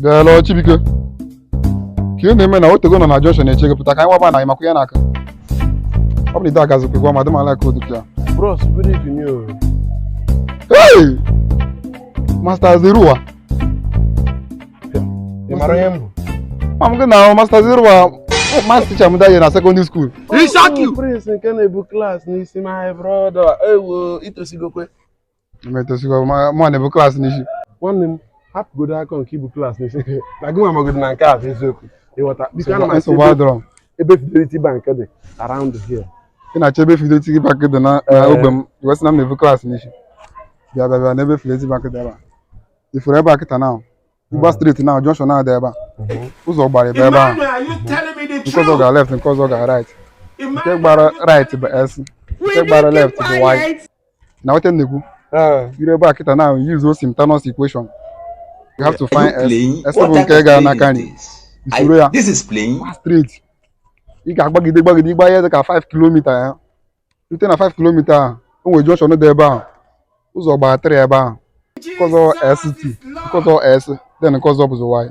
hello chibike ka ị na-eme na otego m nọ na junction na-eche gị pụta ka anyị waba na anyị makwa ya n'aka ọ bụ na ide agazikwa gwa madam ala ka odu ya Bros, good evening. o. hey master zeruwa Ị mara ihe m bụ? ma m gị na master zeruwa maths teacher m that year na secondary school Ọ bụ Prince nke na-ebu class n'isi my brother. Ewo, i tosigokwa. m etosigo ma mụ na-ebu class n'isi nwanne m hapụgodo aka nke ibu class n'isi na gị nwa magodi na nke a bụ eziokwu ịghọta biko ana m achọ ebe fidelity bank dị around here ị na-achọ ebe fidelity bank dị na ogbe m ị wee sị na m na-ebu class n'isi bịa bịa bịa n'ebe fidelity bank dị ebe a ị fụrụ ebe a kịta na ị gba straight na junction na-adị ebe a ụzọ gbara abụọ ebe ahụ nke ọzọ gara left nke ọzọ gara right nke gbara right bụ x nke gbara left bụ y na-aghọta ihe m na-ekwu i rue ebe a kịta na use o simultaneous equation you have to find x x bụ nke ga n'aka nri i soro ya straight ị ga-agbagide gbagide ị gbaa ihe dị ka 5 kilomita ya rute na 5 kilomita a o nwere junction dị ebe ahụ ụzọ gbara 3 ebe ahụ nke ọzọ x2 nke ọzọ x then nke ọzọ bụzi y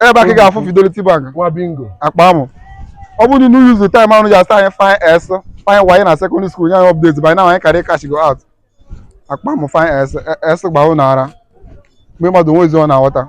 ebe a ka ị ga-afụ Fidelity Bank nwa bingo akpa amụ ọ bụrụ na ụnụ use the time ahụ ji asị anyị find x find y na secondary school nye anyị update by now anyị kara cashgo out akpa amụ find x x gba ụnụ ara mee mmadụ o nwezi ihe ọ na-aghọta